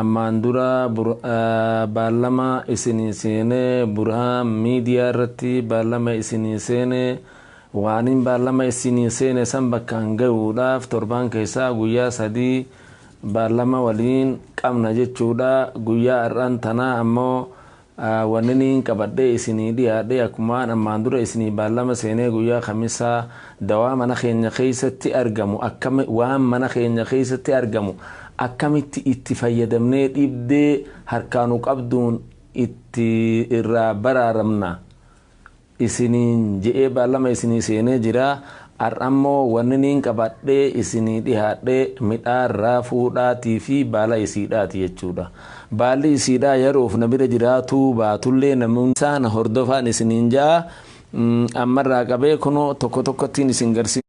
Ammaan dura baallama isinii seenee Burhaan Miidiyaa irratti baallama isinii seene waanin baallama isinii seene san bakkaan gayuudhaaf torbaan keessaa guyyaa sadii baallama waliin qabna jechuudha guyyaa har'aan tanaa ammoo Wanniin qabadhee isinii dhiyaadhe akkumaan ammaan dura isinii baallama seenee guyyaa kamisaa dawaa mana keenya keessatti argamu akkam waan mana keenya keessatti argamu akkamitti itti fayyadamnee dhibdee harkaa nu qabduun itti irraa baraaramna isiniin je'ee baalama isinii seenee jiraa, ar'ammoo wanni niin qabadhee isinii dhihaadhe midhaan raafuudhaatii fi baala isiidhaati jechuudha. Baalli isiidhaa yaroof na bira jiraatuu baatullee namoonni isaa na hordofaan isiniin ja'a, ammarraa qabee kunoo tokko tokkottiin isin garsiisa.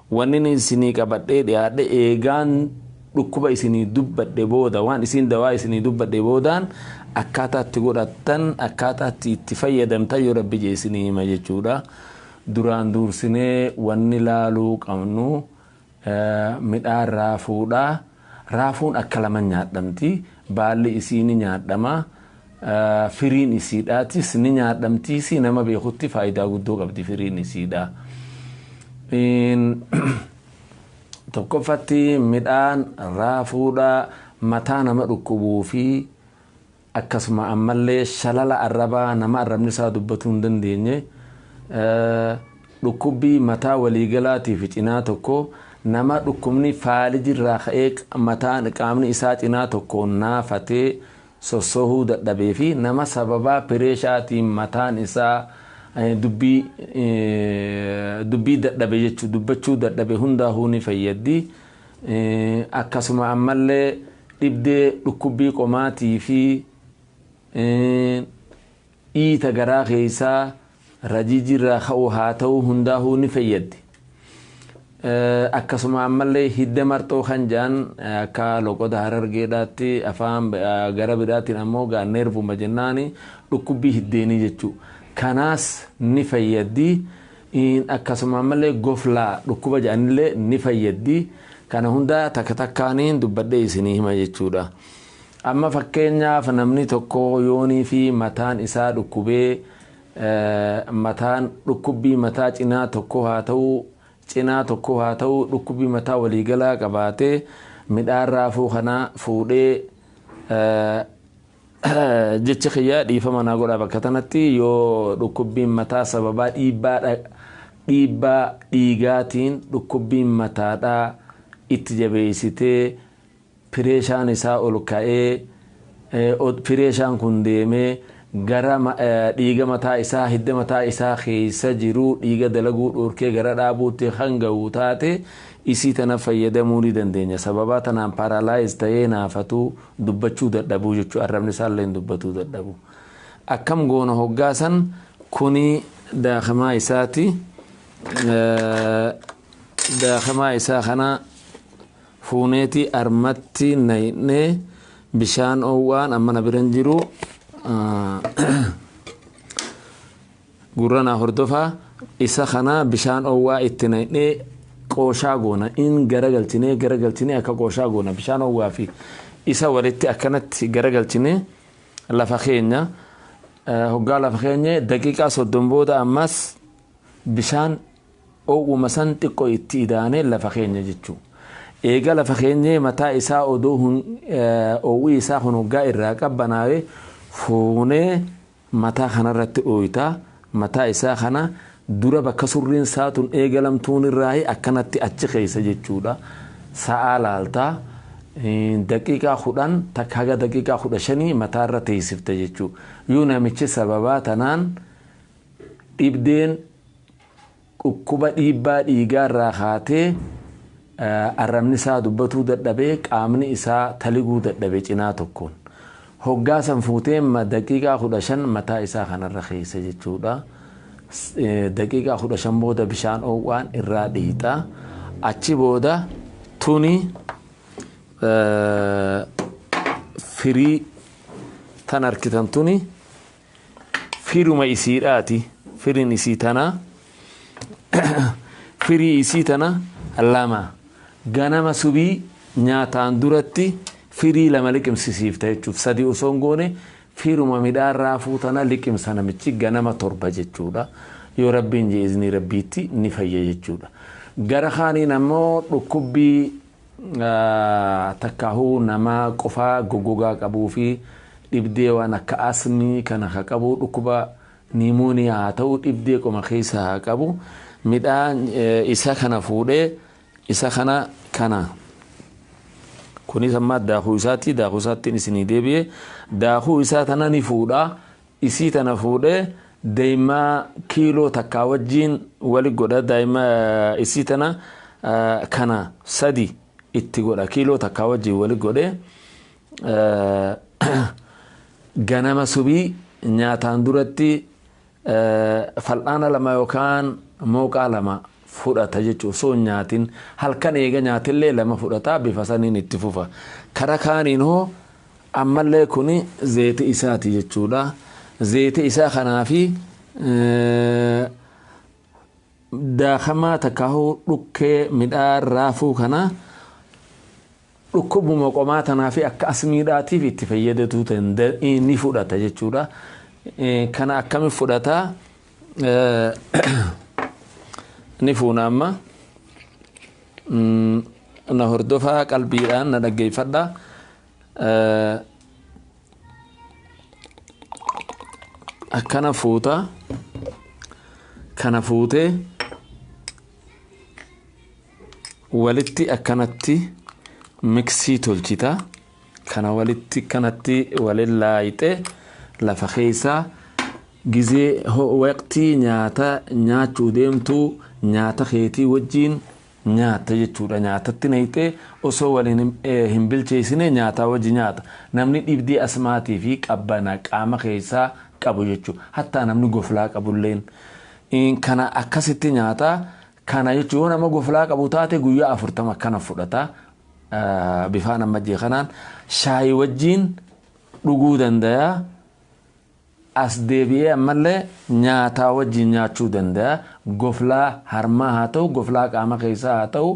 Wannini isinii qabad'ee d'iaad'e, eegaan d'ukkuba isinii dubbad'e booda, waan isiin dawaa isinii dubbad'e boodaan, akkaata iti god'attan, akkaata iti iti fayyadamtan yo Rabbi je isinii hima jechuudha. Duraan duursinee wanni laaluu qabnu midhaan raafuudha. Raafuun akka lama nyaadhamti, baalli isii ni nyaadhama, firiin isiidhaatis ni nyaadhamtiisii nama beekutti faayidaa guddoo qabdi firiin isiidha. Tokkoffatti midhaan raafuudha mataa nama dhukkubuu fi Akkasuma ammallee shalala arrabaa nama arrabni isaa dubbatuu hin dandeenye, dhukkubbii mataa waliigalaati fi cinaa tokko nama dhukkubni faaliji irraa ka'ee mataan qaamni isaa cinaa tokkoon naafatee sossohuu dadhabee fi nama sababaa pireeshaatiin mataan isaa dubbii dubbii dadhabe jechuu dubbachuu dadhabe hundaahuu ni fayyaddi. Akkasuma ammallee dhibdee dhukkubbii qomaatii fi dhiita garaa keessaa rajiijirraa ka'u haa ta'uu hundaahuu ni fayyaddi. Akkasuma ammallee hidda marxoo kan jaan akka loqoda harargeedhaatti afaan gara biraatiin ammoo gaa neervuma jennaani dhukkubbii hiddeenii jechuu. Kanaas ni fayyaddi. iin akkasumaan malee goflaa dhukkuba jedhanillee ni fayyaddi kana hunda takka takkaaniin dubbadhee isinii hima jechuudha amma fakkeenyaaf namni tokko yoonii fi mataan isaa dhukkubee mataan dhukkubbii mataa cinaa tokkoo haa ta'uu cinaa tokkoo haa ta'uu dhukkubbii mataa waliigalaa qabaatee midhaan raafuu kana fuudhee Jecha kiyya dhiifama naa godhaa bakka tanatti yoo dhukkubbiin mataa sababaa dhiibbaa dha- dhiibbaa dhiigaatiin dhukkubbiin mataadhaa itti jabeessitee pireeshaan isaa ol ka'ee eh, od- pireeshaan kun deemee gara ma- eh, dhiiga mataa isaa hidda mataa isaa keessa jiru dhiiga dalaguu dhorkee gara dhaabuutti kan ga'u taate isii tana fayyadamuu ni dandeenya sababaa tanaan paaraalaayiz ta'ee naafatuu dubbachuu dadhabuu jechuudha. Arrabni isaallee hin dubbatuu dadhabu. Akkam goona hoggaasan kuni daakamaa isaati. Daakamaa isaa kana fuuneeti armatti nayinee bishaan oowwaan amma na biran jiru Gurra naa hordofaa isa kana bishaan owwaa itti naynee qooshaa goona in garagalchinee garagalchinee akka qooshaa goona bishaan owwaa fi isa walitti akkanatti garagalchinee lafa keenya hoggaa lafa keenya daqiiqaa soddom booda ammas bishaan owwuma san xiqqo itti idaanee lafa keenya jechuu eega lafa keenyee mataa isaa odoo owwii isaa kun hoggaa irraa qabbanaawee fuunee mataa kanarratti dhooyta, mataa isaa kana dura bakka surriin saa tun eegalamtuunirraahi akkanatti achi keessa jechuudha sa'aa laalta, daqiiqaa 10 takka haga daqiiqaa 15 mataarra teessifta jechuudha. Yoo namichi sababaa tanaan dhibdeen. Dhukkuba dhiibbaa dhiigaa irraa kaatee arrabni isaa dubbatuu dadhabee qaamni isaa taliguu dadhabe cinaa tokkoon. Hoggaa san fuutee ma daqiiqaa 15 mataa isaa kanarra keessa jechuudha. Daqiiqaa 15 booda bishaan oow'aan irraa dhiixa. Achi booda tuni firii tan arkitan tuni firuma isiidhaati firin isii tana firii isii tana lama ganama subii nyaataan duratti firii lama liqimsisiifta jechuuf sadii osoo hin goone firuma midhaan raafuu tana liqimsa namichi ganama torba jechuudha yoo rabbiin jee iznii rabbiitti ni fayya jechuudha gara kaaniin ammoo dhukkubbii takkaahuu nama qufaa goggogaa qabuu fi dhibdee waan akka asmii kana ka qabu dhukkuba niimooniyaa haa ta'u dhibdee qoma keessa haa qabu midhaa isa kana fuudhee isa kana kana kunis ammaa daakuu isaatti daakuu isaattiin isinii deebi'e daakuu isaa tana ni fuudha isii tana fuudhe daima kiiloo takkaa wajjiin wali godha daima isii tana kana sadi itti godha kiiloo takkaa wajjiin wali godhe ganama subii nyaataan duratti fal'aana lama yookaan mooqaa lama fudhata jechuun osoo hin nyaatin halkan eega nyaatillee lama fudhata bifa saniin itti fufa kara kaaniin hoo Ammallee kuni zeeyta isaati jechuudha. Zeeyta isaa kanaafi daakamaa takkaahuu dhukkee midhaan raafuu kana dhukkubuma qomaa tanaafi akka asmiidhaatiif itti fayyadatuu tanda ni fudhata jechuudha. Kana akkami fudhata ni fuuna amma na hordofaa qalbiidhaan na dhaggeeffadha. akkana fuuta kana fuutee walitti akkanatti miksii tolchita kana walitti kanatti walin laayixee lafa keessaa gizee waqtii nyaata nyaachuu deemtuu nyaata keetii wajjiin nyaatta jechuudha nyaatatti nayxee osoo wal hin bilcheessine nyaataa wajji nyaata namni dhibdii asmaatii fi qabbana qaama keessaa qabu jechu hattaa namni goflaa qabulleen kana akkasitti nyaata kana jechu yoo nama goflaa qabu taate guyyaa afurtama akkana fudhata bifaan amma jee kanaan shaayi wajjiin dhuguu dandayaa As deebi'ee ammallee nyaataa wajjin nyaachuu danda'a. Goflaa harmaa haa ta'u, goflaa qaama keessaa haa ta'u,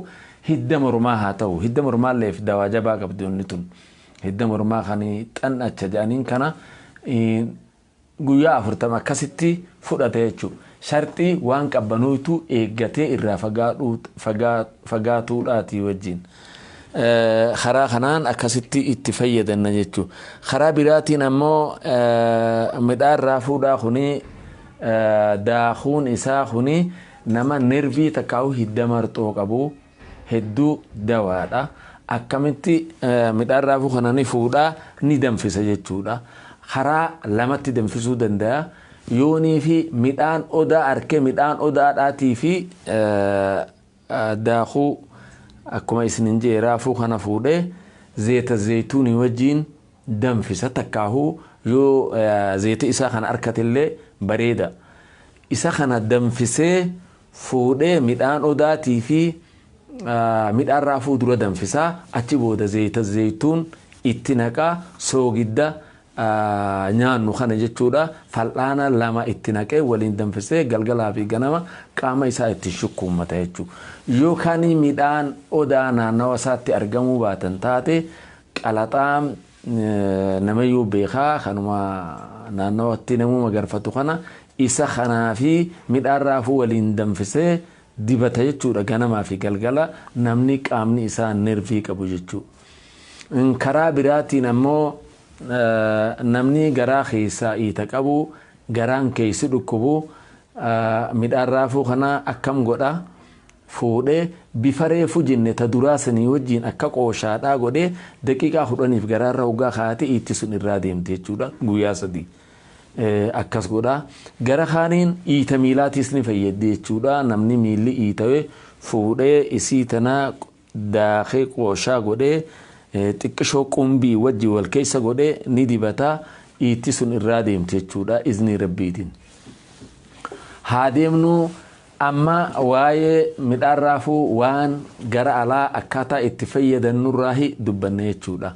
hidda mormaa haa ta'u. Hidda mormaalleef dawaa jabaa qabdi wanni tun. Hidda mormaa kan xan'acha jedhaniin kana guyyaa afurtama akkasitti fudhata jechuudha. Sharxii waan qabbanooytuu eeggatee irraa fagaatuudhaatii wajjin. Karaa kanaan akkasitti itti fayyadanna jechuudha. Karaa biraatiin ammoo midhaan raafuudhaa kuni daakuun isaa kuni nama nervii takkaa'u hidda marxoo qabu hedduu dawaadha. Akkamitti midhaan raafuu kana ni fuudhaa ni danfisa jechuudha. Karaa lamatti danfisuu danda'a. Yoonii fi midhaan odaa arkee midhaan odaadhaatii fi daakuu akkuma isinin je'e raafuu kana fuudhee zeeta zeeytuunii wajjiin danfisa takkaahuu yoo zeeta isaa kana arkatellee bareeda isa kana danfisee fuudhee midhaan odaatii fi midhaan raafuu dura danfisaa achi booda zeeyta zeeytuun itti naqaa soogidda nyaannu kana jechuudha fal'aana lama itti naqee waliin danfisee galgalaa fi ganama qaama isaa itti shukkuummata jechuu yookaan midhaan odaa naannawa isaatti argamuu baatan taate qalaxaa namayyuu beekaa kanuma naannawatti namuu magarfatu kana isa kanaa fi midhaan raafuu waliin danfisee dibata jechuudha ganamaa fi galgala namni qaamni isaa nervii qabu jechuu. Karaa biraatiin ammoo namni garaa keessaa iita qabu, garaan keessi dhukkubu midhaan raafuu kana akkam godha? Fuudhee bifa reefu jenne ta duraa sanii wajjiin akka qooshaadhaa godhee daqiiqaa kudhaniif garaarra hoggaa kaa'ate iitti sun irraa deemti jechuudha guyyaa sadii. Akkas godha. Gara kaaniin iita miilaatiis ni fayyaddi jechuudha. Namni miilli iitawe fuudhee isii tana daakee qooshaa godhee xiqqishoo qumbii wajji wal keessa godhee ni dibata iitti sun irraa deemti jechuudha iznii rabbiitiin haa deemnu amma waa'ee midhaan raafuu waan gara alaa akkaataa itti fayyadannurraahi dubbanne jechuudha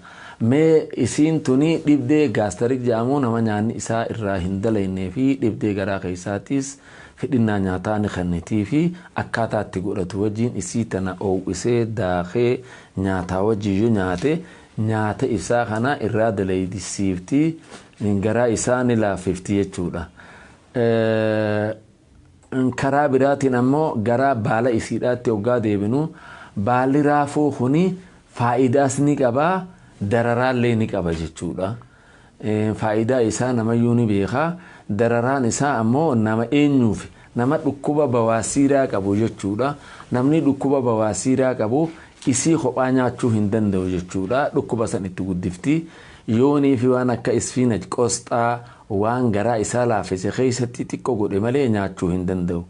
mee isiin tuni dhibdee gaastarik jedhamu nama nyaanni isaa irraa hin dalaynee fi dhibdee garaa keessaatiis fedhinnaa nyaataa ni kennitiifi, akkaataa itti godhatu wajjiin isii tana oow'isee, daakee, nyaataa wajjiin yo nyaate, nyaata ibsaa kanaa irraa dalaydisiifti, garaa isaa ni laaffifti jechuudha. Karaa biraatiin ammoo garaa baala isiidhaatti hoggaa deebinu, baalli raafuu kuni faayidaas ni qaba, dararaallee ni qaba jechuudha. Faayidaa isaa namayyuu ni beeka. Dararaan isaa ammoo nama eenyuufi? Nama dhukkuba bawaasiiraa qabu jechuudha. Namni dhukkuba bawaasiiraa qabu isii kophaa nyaachuu hin danda'u jechuudha. Dhukkuba san itti guddifti. Yooniifi waan akka isfiinaj, qosxaa, waan garaa isaa laaffise keessatti xiqqo godhe malee nyaachuu hin danda'u.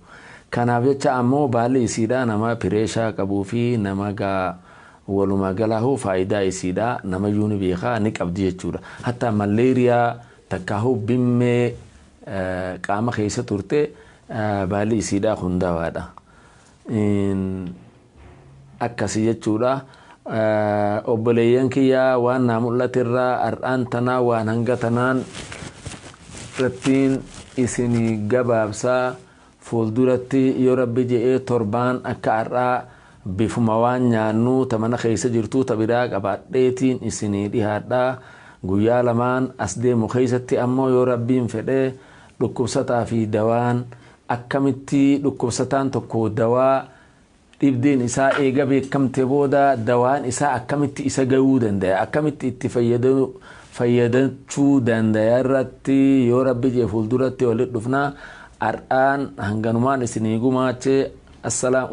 Kanaaf jecha ammoo baalli isiidhaa nama pireeshaa qabuufi nama Walumaa galaahuu faayidaa isiidha namayyuu ni beeka ni qabdi jechuudha. Hattaa malleeriyaa takkaahuu bimmee qaama keessa turte baalli isiidhaa kun dawaadha. Akkasi jechuudha. Obboleeyyan kiyyaa waan naa mul'aterraa har'aan tanaa waan hanga tanaan irrattiin isinii gabaabsaa Fuulduratti yoo Rabbi je'ee torbaan akka ar'aa bifuma waan nyaannuu ta mana keessa jirtuu ta biraa qabaadheetiin isinii dhihaadha. Guyyaa lamaan as deemu keessatti ammoo yoo Rabbiin fedhe dhukkubsataa fi dawaan akkamitti dhukkubsataan tokko dawaa Dhibdeen isaa eega beekamte booda dawaan isaa akkamitti isa gayuu dandaya, akkamitti itti fayyadachuu dandaya irratti yoo rabbi jee fuulduratti walit dhufna. Har'aan hanganumaan isinii gumaache.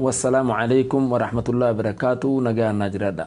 Wassalaamu aleykum warahmatullahi wabarakaatuh nagaan naa jiraadha.